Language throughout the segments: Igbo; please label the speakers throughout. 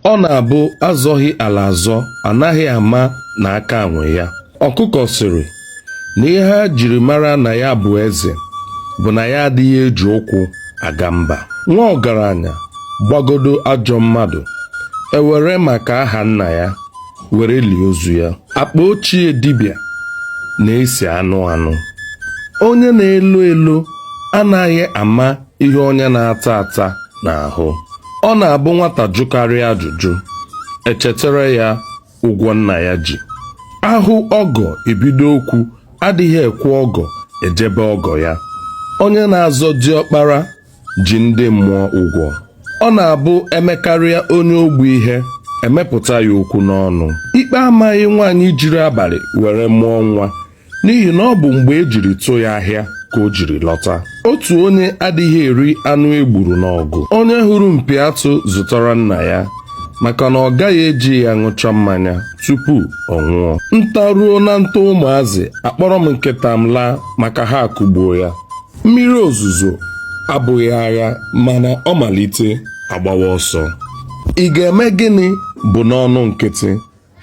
Speaker 1: ọ na-abụ a zọghị ala azọ anaghị ama na aka nwe ya ọkụkọ sịrị na ihe e jiri mara na ya bụ eze bụ na ya adịghị eji ụkwụ aga mba nwa ọgaranya gbagodo ajọ mmadụ e were maka aha nna ya were lie ozu ya akpa ochie dibịa na-esi anụ anụ onye na-elo elo anaghị ama ihe onye na-ata ata na-ahụ ọ na-abụ nwata jụkarịa ajụjụ e chetara ya ụgwọ nna ya ji a hụ ọgọ e bido okwu adịghị ekwe ọgọ eje be ọgọ ya onye na-azọ diọkpara ji ndị mmụọ ụgwọ ọ na-abụ e mekarịa onye ogbu ihe e mepụta ya okwu n'ọnụ ikpe amaghị nwaanyị jiri abalị were mụọ nwa n'ihi na ọ bụ mgbe e jiri tụ ya ahịa ka o jiri lọta otu onye adịghị eri anụ e gburu n'ọgụ onye hụrụ mpi atụ zụtara nna ya maka na ọ gaghị eji ya ṅụcha mmanya tupu ọ nwụọ nta ruo na nta ụmụazị akpọrọ m nkịta m laa maka ha akụgbuo ya mmiri ozuzo abụghị agha mana ọ malite a gbawa ọsọ ị ga-eme gịnị bụ n'ọnụ nkịtị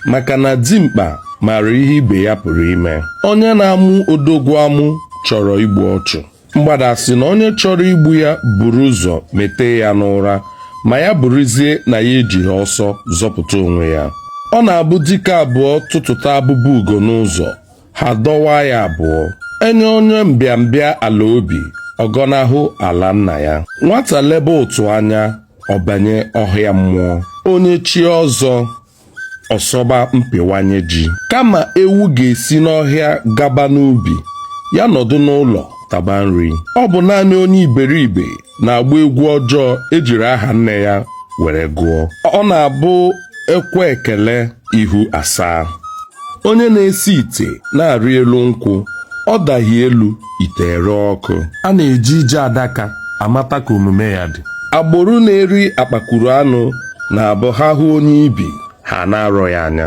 Speaker 1: maka na dimkpa maara ihe ibe ya pụrụ ime onye na-amụ odogwu amụ chọrọ igbu ọchụ mgbada sị na onye chọrọ igbu ya buru ụzọ mete ya n'ụra ma ya bụrụzie na ya ejighị ọsọ zọpụta onwe ya ọ na-abụ dike abụọ tụtụta abụba ugo n'ụzọ ha dọwa ya abụọ e nye onye mbịambịa ala obi ọ gọnahụ ala nna ya nwata lebe ụtụ anya ọ banye ọhịa mmụọ onye chie ọzọ ọ sọba mpịwanye ji kama ewu ga-esi n'ọhịa gaba n'ubi ya nọdụ n'ụlọ taba nri ọ bụ naanị onye iberibe na-agba egwu ọjọọ e jiri aha nne ya were gụọ ọ na-abụ e kwe ekele ihu asaa onye na-esi ite na-arị elu nkwụ ọ daghị elu ite ere ọkụ a na-eji ije adaka amata ka omume ya dị agbụrụ na-eri akpakwuru anụ na-abụ ha hụ onye ibi ha ana-arọ ya anya